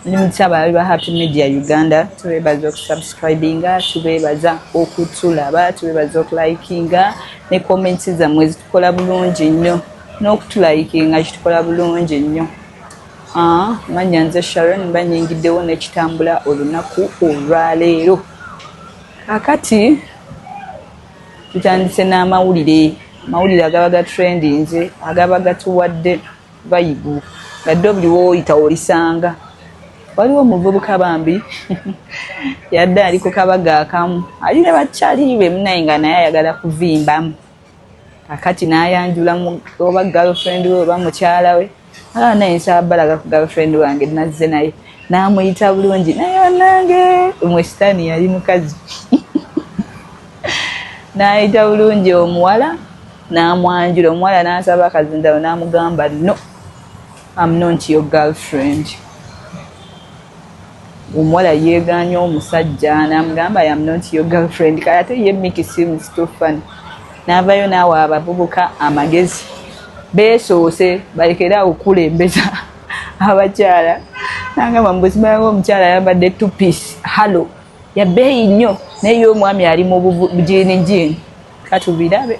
ndi mutya baabi ba happy media uganda tubeebaza okusubscribinga tubeebaza okutulaba tubeebaza okulikinga ne comments zammwe zitukola bulungi nnyo n'okutulayikinga kitukola bulungi nnyo ah, manya nze sharon mba nyingiddewo nekitambula olunaku olwaleero akati Tutandise n'amawulire amawulire agaba ga trendinze agaba gatuwadde bayibu nga ddo buli woyita olisanga waliwo omuvubuka bambi yadde ali ku kabaga akamu ali ne bakyaliibe munaye nga naye ayagala kuvimbamu akati nayanjula oba galfrend we oba mukyala we Ala naye nsaba balaga ku girlfriend wange nazze naye namuyita bulungi naye onange mwe sitaani yali mukazi nayita bulungi omuwala namwanjula omuwala nasaba akazindalo namugamba no am not your girlfriend Omuwala yeegaanye omusajja n'amugamba I am not your girlfriend kale ate ye Mickey si musituffani n'avaayo n'awa abavubuka amagezi beesoose balekere awo okukulembeza abakyala nangamba mubuzima nga omukyala ayambadde two piece hallo yabeeyi nnyo naye ye omwami ali mu bujini jini katubirabe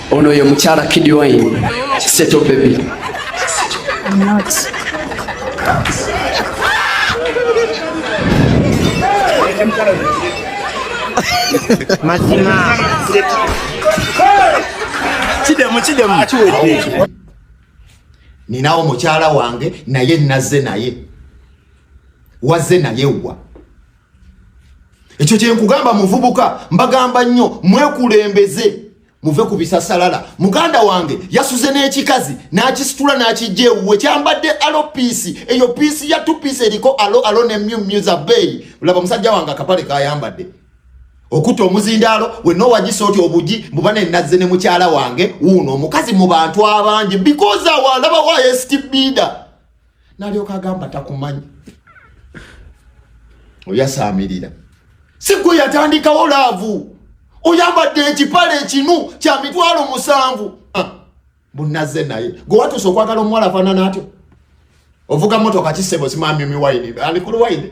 Ono ye mukyala Kid Wine, Seto Baby. I'm not. Mazima. Kidemu, kidemu. Akiwedde. Ninawo mukyala wange naye nazze naye. Wazze naye wa. Ekyo kyenkugamba muvubuka mbagamba nnyo mwekulembeze. muve ku bisasalala muganda wange yasuze n'ekikazi n'akisitula n'akijja ewuwe kyambadde alo piisi eyo piisi ya tupiisi eriko alo alo ne myumyuza beeyi laba musajja wange akapale kayambadde okutta omuzindaalo wenna owagisa oti obugi mbuba nenazze ne mukyala wange wuuno omukazi mu bantu abangi because awalaba wa estbida nalyoka agamba takumanyi oyasaamirira si gwe yatandikawo laavu oyambadde ekipale ekinu kya mitwalo musanvu ah, bunazze naye gwe watuusa okwagala omuwala afaanana atyo ovuga motoka kisebo simamyumi wayini alikulu wayini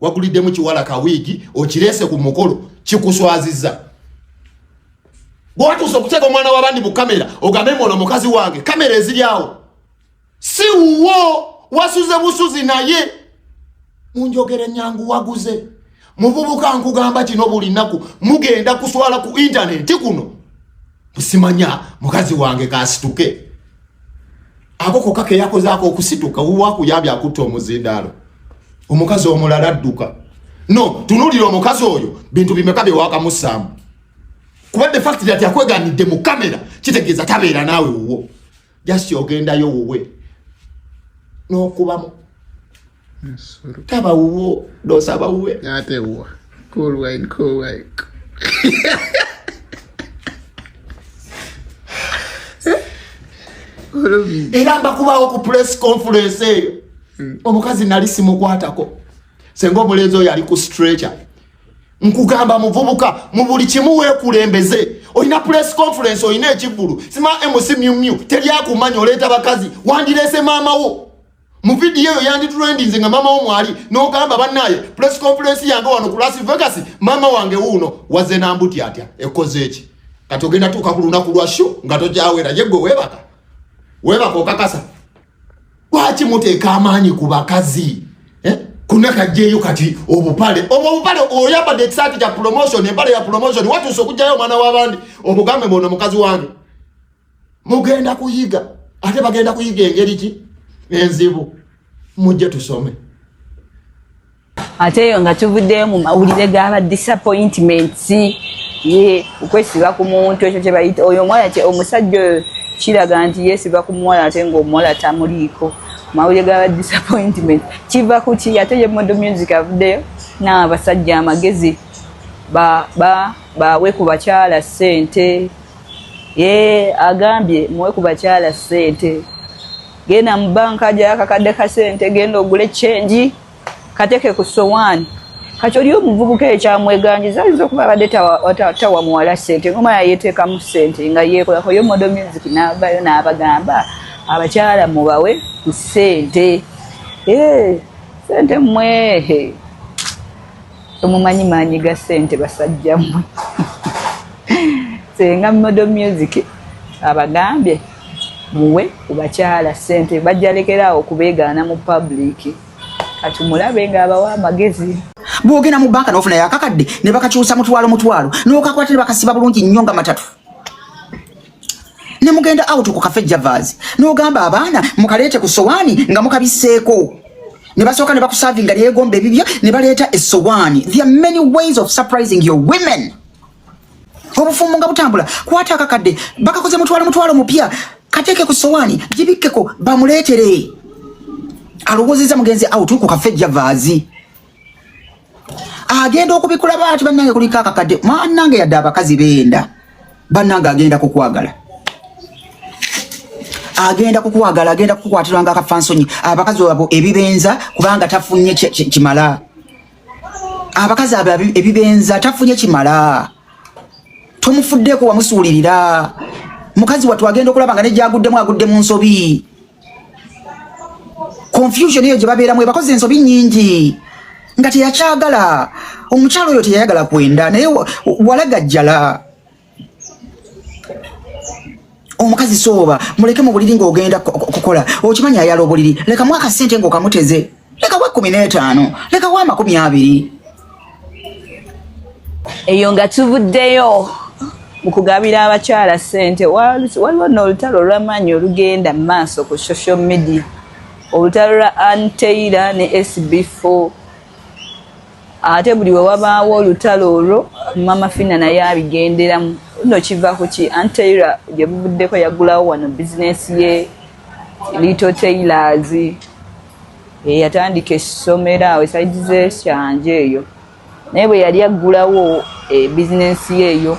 waguliddemu kiwala kawiigi okireese ku mukolo kikuswaziza bwatuuse okuteeka omwana wabandi mu kamera ogambe mwono mukazi wange kamera eziryawo si wuwo wasuze busuzi naye munjogere nyangu waguze muvubuka nkugamba kino buli naku mugenda kuswala ku intaneti kuno musimanya mukazi wange kasituke ako koka keyakozaako okusituka wewakuyambye akutta omuzindaalo omukazi omulala adduka no tunulira omukazi oyo bintu bimeka byewakamusaamu kuba de fact that yakweganidde mu kamera kitegeeza tabeera naawe wuwo just ogendayo wuwe n'okubamu taba wuwo dosaba wuwe ate wuwa cool wine cool wine era mbakubawo ku press conference eyo hmm. omukazi nali simukwatako senga omulenzi oyo ali ku stretcher nkugamba muvubuka mu buli kimu weekulembeze olina press conference olina ekivulu sima mc myumyu teryakumanya oleeta bakazi wandireese maama wo mu vidiyo eyo yanditulendinze nga maama wo mwali n'ogamba bannaaye press conference yange wano ku las vegas maama wange wuuno waze nambuti atya ekoze eki kati ogenda tuuka ku lunaku lwa shu nga tokyawera ye gwe weebaka weebaka okakasa lwaki muteeka amaanyi ku bakazi eh? kunakajjeeyo kati obupale obwo obupale oyambadde ekisaati kya promotion empale ya promotion watuuse okugjayo omwana w'abandi omugambe mwono mukazi wange mugenda kuyiga ate bagenda kuyiga engeri ki enzibu mujje tusome ate eyo nga tuvuddeyo mu mawulire gaba disappointments ye okwesiba ku muntu ekyo kyebayita oyo omuwala kye omusajja oyo kiraga nti yesiba ku muwala ate ngaomuwala tamuliiko mawulire gaba disappointment kiva ku ki ate ye modo music avuddeyo naabasajja amagezi bawe ku bakyala ssente Yee agambye muwe ku bakyala ssente. Genda mu banka ajayo akakadde ka ssente, genda ogule kyengi kateke ku sowaani. Kati oli omuvubuka ekyamweganjiza ayinza okuba abadde tawa muwala ssente ngoma yayeteekamu ssente nga yeekolako yo modo music n'avayo n'abagamba abakyala mubawe ku ssente. Yee ssente mwehe. Temumanyi maanyi ga ssente basajja mmwe. Senga Model Music abagambye muwe ku bakyala ssente bajjalekera awo kubeegaana mu public. Kati mulabe ng'abawa amagezi. Bw'ogenda mu bbanka n'ofuna yakakadde ne bakakyusa mutwalo mutwalo n'okakwata ne bakasiba bulungi nnyo nga matatu. ne mugenda out ku cafe javas n'ogamba abaana mukaleete ku sowaani nga mukabisseeko ne basooka ne bakusavinga lyegomba ebibyo ne baleeta esowaani there are many ways of surprising your women obufumbo nga butambula kwata akakadde bakakoze mutwalo mutwalo mupya kateeke ku sowaani gibikkeko bamuleetere alowoozeza mugenzi out ku cafe javaazi agenda okubikula baati bannange kuliko akakadde mwanange yadde abakazi benda bannange agenda kukwagala agenda kukwagala agenda kukukwatiranga akafansonyi abakazi abo ebibenza kubanga tafunye kimala abakazi abo ebibenza tafunye kimala tomufuddeeko wamusuulirira mukazi wattu agenda okulaba nga nejyaguddemu agudde mu nsobi confusion eyo gye babeeramu ebakoze ensobi nnyingi nga teyakyagala omukyalo oyo teyayagala kwenda naye walagajjala omukazi sooba muleke mu buliri ng'ogenda kukola okimanyi ayala obuliri lekamu akasente ng'okamuteze lekawo ekkumi n'etaano lekawo amakumi abiri eyo nga tuvuddeyo mu kugabira abakyala ssente waliwo n'olutalo olw'amaanyi olugenda mu maaso ku social media olutalo lwa anteira ne sb4 ate buli we wabaawo olutalo olwo mama fina naye abigenderamu no kiva ku ki anteira gye buvuddeko yagulawo wano bizinensi ye Little Tailors eyatandika essomero awo esaidi zekyanja eyo naye bwe yali aggulawo eh, bizinensi ye eyo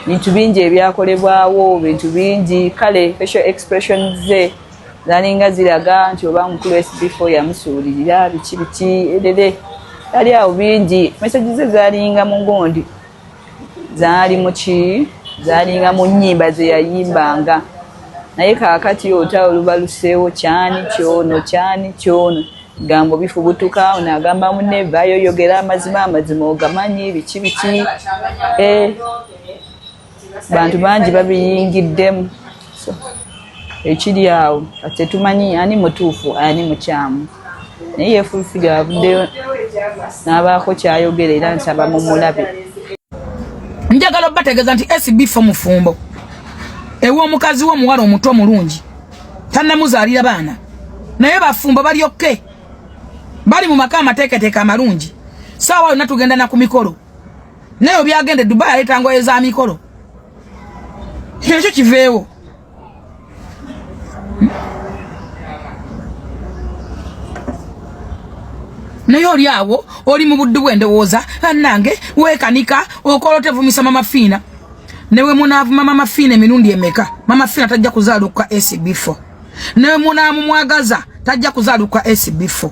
bintu bingi ebyakolebwawo bintu bingi kale facial expression ze zalinga ziraga nti oba mukulu sb4 yamusuulirira biki biki erere yali awo bingi mesagi ze zalinga mu gundi zaali muki zaalinga mu nnyimba ze yayimbanga naye kaakati ota oluba luseewo kyani kyono kyani kyono gambo bifubutuka ono agamba mune vayo yogera amazima amazima ogamanyi biki biki eh, bantu bangi babiyingiddemu ekiri awo tetumanyi ani mutuufu ani mukyamu naye yefulfiri avuddeyo n'abaako kyayogera era nsaba mumulabe njagala obategeeza nti sb fo mufumbo ew'omukazi wo omuwala omuto omulungi tannamuzaalira baana naye bafumbo balyokke bali mu maka amateeketeeka amalungi saawa yonna tugenda na ku mikolo naye obyagenda edubayi aleeta ngoye za mikolo kyekyo kiveewo naye oli awo oli mu buddu bw'endowooza bannange weekanika okola otevumisa mama fiina newe munaavuma mama fiina emirundi emeka mama fiina tajja kuzaaluka sb4 newe munaamumwagaza tajja kuzaaluka sb4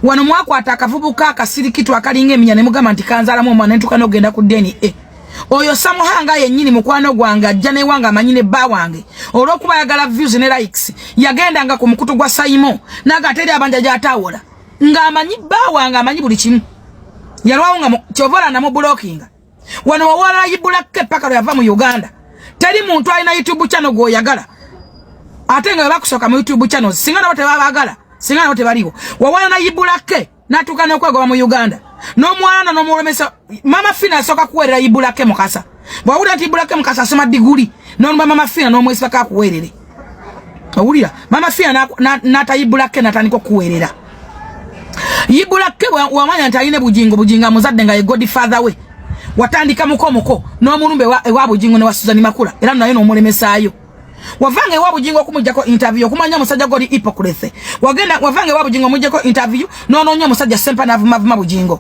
wano mwakwata akavubuka akasirikitu akalinga eminya ne mugamba nti kanzaalamu omwana entuka n'ogenda ku dna oyo samuhanga yennyini mukwano gwange ajja newange amanyi ne bba wange olwokuba ayagala views ne likes yagendanga ku mukutu gwa sayimo naga ateri abanja gyatawola ng'amanyi bba wange amanyi buli kimu yalwawo nga kyova olanda mu bulokinga wano wawalayibbulakko eppaka lwe yava mu uganda teri muntu alina youtube channel gwoyagala ate nga webakusooka mu youtube channel singa nabo tebabagala singa nabo tebaliwo wawala nayibbulakko natuka nokwegoba mu Uganda nomwana nomulemesa mama Fina asoka kuwerera ibulake mukasa bwawulira nti ibulake mukasa asoma diguli nonumba mama Fina nomwesibaka akuwerere owulira mama Fina natayibulake natandika okuwerera ibulake wamanya nti alina bujingo bujingo amuzadde nga ye godfather we watandika mukomuko nomulumba ewa bujingo ne wa Suzani Makula era naye nomulemesaayo wavanga ewa bujingo kumujjako interview okumanya omusajja goli hypocrite wagenda wavanga ewa bujingo omujjako interview n'onoonya omusajja sempa n'avumavuma bujingo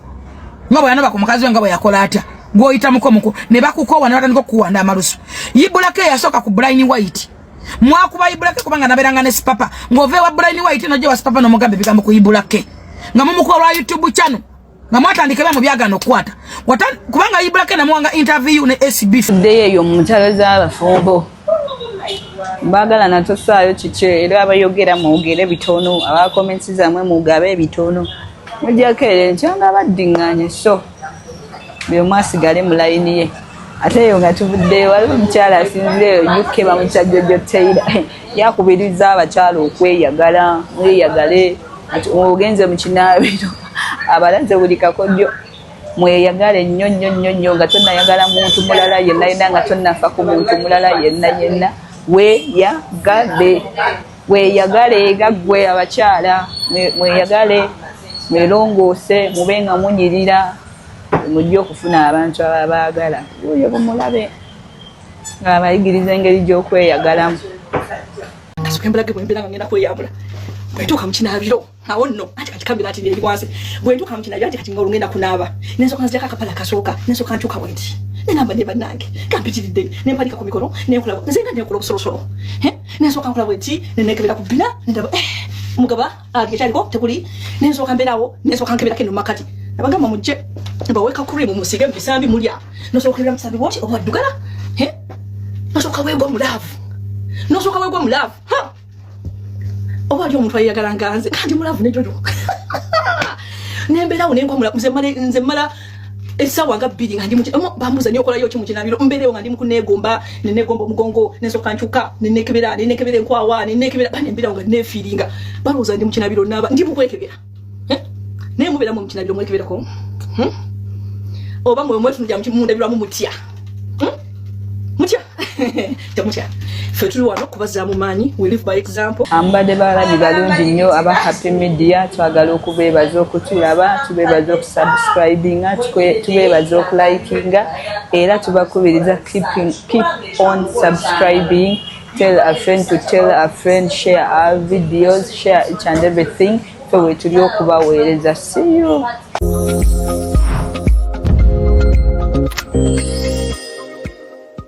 nga bwe yanoba ku mukazi we nga bwe yakola atya gw'oyita mukomuko ne bakukoowa ne batandika okukuwanda amalusu yibulako eyasooka ku brine white mwakuba yibulake kubanga naberanga ne sipapa ng'ova ewa brine white nojja wa sipapa n'omugamba ebigambo ku yibulake nga mumukuba lwa youtube channel nga mwatandikira mu byagano okukwata kubanga ibulake namuwanga interview ne SB ddeyo eyo mu ntalo z'abafumbo baagala natosaayo kiki era abayogera mwogere bitono abakomensi zamwe mugabe ebitono mujjako ere ntyanga baddinganye so buli omu asigale mu layini ye ate eyo nga tuvuddeyo waliwo omukyala asinzire eyo uk bamukyajjojo taira yakubiriza abakyala okweyagala mweyagale ogenze mu kinaabiro abalaze buli kakodyo mweyagale nnyo nnyo nnyo nnyo nga tonayagala muntu mulala yenna yenna nga tonafa ku muntu mulala yenna yenna weyagale weyagale nga gwe abakyala mweyagale mwelongoose mube nga munyirira mujja okufuna abantu ababaagala oyo bumulabe nga abayigiriza engeri gy'okweyagalamu nasuke mbulage bwembeera nga ngenda kweyambula bwetuuka mukinaabiro awo nno anti kati kabira ati neri wansi bwe ntuuka mu kinabyo anti kati nga olungenda kunaaba nensooka nzijako akapala kasooka nensooka ntuuka bwe nti nenamba ne bannange kampitiridde ne mpalika ku mikono nenkola nze nga nenkola obusolosolo nensooka nkola bwe nti nenekebera ku bbina nendaba eh, mugaba ali ah, ekyaliko tekuli nensooka mbeerawo nensooka nkeberako eno makati nabagamba mujje baweka cream musige mubisambi mulya nosooka okebera musambi bwoti owaddugala nosooka weegwa mu laavu nosooka weegwa mu laavu oba ali omuntu ayagala nganze kandi mulavu ne jojo nembeerawo nenkwamula nze mala nze mala esawa nga bbiri nga ndimu omo bamuza nyo kolayo kimu kinabiro mberewo nga ndimu kunegomba ne negomba mugongo nezo kanchuka ne nekebera ne nekebera enkwawa ne nekebera bane mbira nga nefiringa bamuza ndimu kinabiro naba ndimu kwekebera eh? naye mubeera mu mukina byomwekeberako hmm? oba mwe mwetunulira mundabirwamu mutya hmm? mutya temutya ffe tuli wano kubazaamu maanyi we live by example ambadde balabi balungi nnyo aba happy media twagala okubeebaza okutulaba tubeebaza okusubscribinga tubeebaza okulikinga era tubakubiriza keep on subscribing tell a friend to tell a friend share our videos share each and everything fe wetuli okubaweereza see you